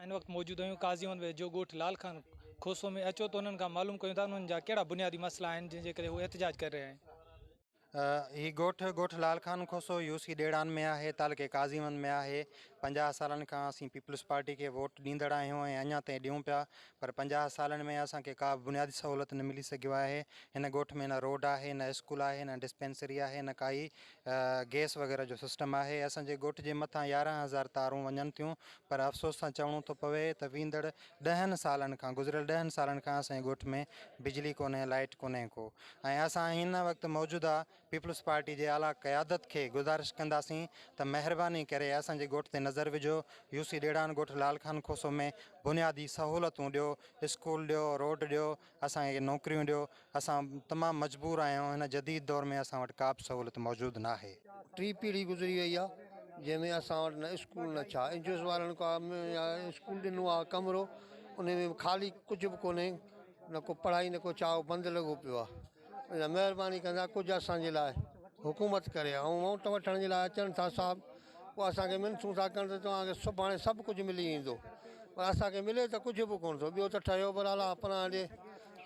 ان وقت موجود هيون قاضي احمد ويجهو ڳوٺ لال خان کوسو ۾ اچو ته انهن کان معلوم ڪيون ته انهن جا ڪهڙا بنيادي مسئلا آهن جن جي ڪري هو احتجاج ڪري رهيا آهن. هي ڳوٺ ڳوٺ لال خان کوسو يو سي ڏيڙان ۾ آهي تعلقي قاضي احمد ۾ آهي پنجاهه سالن کان اسين پيپلز پارٽي کي ووٽ ڏيندڙ آهيون ۽ اڃان تائين ڏيون پيا پر پنجاهه سالن ۾ اسان کي ڪا به بنيادي سهولت نه ملي سگهيو آهي هن ڳوٺ ۾ نه روڊ آهي نه اسڪول آهي نه ڊسپينسري آهي نه ڪائي گيس وغيره جو سسٽم آهي اسان جي ڳوٺ جي مٿان يارهن هزار تارون وڃن ٿيون پر افسوس سان چوڻو ٿو پوي ته ويندڙ ڏهن سالن کان گذريل ڏهن سالن کان اسان جي ڳوٺ ۾ بجلي ڪونهي لائيٽ ڪونهي ڪو ۽ اسان هن وقت موجوده پيپلز پارٽي جي اعليٰ قيادت کي گذارش ڪنداسين ته مهرباني ڪري اسان جي ڳوٺ تي نظر وجهو يوسي ڏيڙان ڳوٺ لال خان کوسو ۾ بنيادي سهولتون ڏيو اسڪول ڏيو روڊ ڏيو اسان کي نوڪريون ڏيو، اسان تمام مجبور آهيون، هن جديد دور ۾ اسان وٽ ڪابه سهولت موجود ناهي. ٽي پيڙهي گذري وئي آهي جنهن ۾ اسان وٽ نه اسڪول نه ڇا اين جي اوز وارن ڪا اسڪول ڏنو آهي ڪمرو انهي ۾ به خالي ڪجهه به ڪونهي نه ڪو پڙهائي نه ڪو ڇا اهو بند لڳو پيو آهي. مهرباني ڪندا ڪجهه اسان جي لاء حڪومت ڪري ۽ ووٽ وٺڻ جي لاء اچن ٿا صاحب پوء اسانکي منٿون ٿا ڪن ته توهان کي سڀاڻي سڀ ڪجهه ملي ويندو پر اسانکي ملي ته ڪجهه به ڪون ٿو ٻيو ته ٺهيو به لالا پران ڏي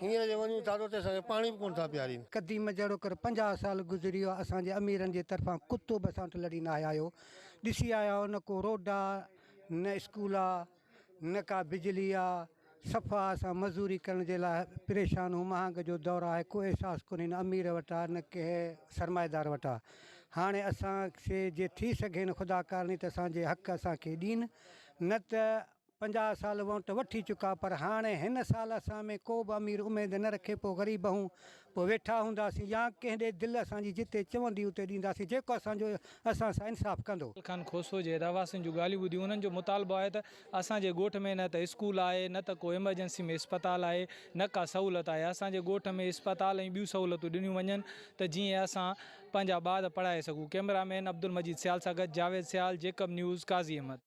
هينئر جي وڃون ٿا ته اتي اسانکي پاڻي به ڪون ٿا پيارين. قديم جهڙوڪر پنجاهه سال گذري ويا اسان جي اميرن جي طرفان ڪتو به اسان وٽ لڙي ناهي آيو ڏسي آيا آهيو نه ڪو روڊ آ نه اسڪول آ. نه ڪا بجلي آ، صفا اسان مزوري ڪرڻ جي لاء پريشان ھون مھانگ جو دور آھي ڪو احساس ڪونھي نه امير وٽ آ نه ڪنھن سرمائيدار وٽ آ ھاڻي اسان سي جي ٿي سگھين خدا ڪارڻي ته اسان جي حق اسان کي ڏين نه ته پنجاھ سال وونٽ وٺي چڪا پر ھاڻي ھن سال اسان ۾ ڪو به امير اميد نه رکي پو غريب ھون پوء ويٺا هونداسين يا ڪنهن ڏي دل اسان جي جتي چوندي اتي ڏينداسين جيڪو اسان جو اسان سان انصاف ڪندو. لال خان کوسو جي رهواسين جون ڳالهيون ٻڌيون انهن جو مطالبو آهي ته اسان جي ڳوٺ ۾ نه ته اسڪول آهي نه ته ڪو ايمرجنسي ۾ اسپتال آهي نه ڪا سهولت آهي اسان جي ڳوٺ ۾ اسپتال ۽ ٻيون سهولتون ڏنيون وڃن ته جيئن اسان پنهنجا ٻار پڙهائي سگهون ڪئميرا مين عبدالمجيد سيال سان گڏ جاويد سيال جيڪب نيوز قاضي احمد.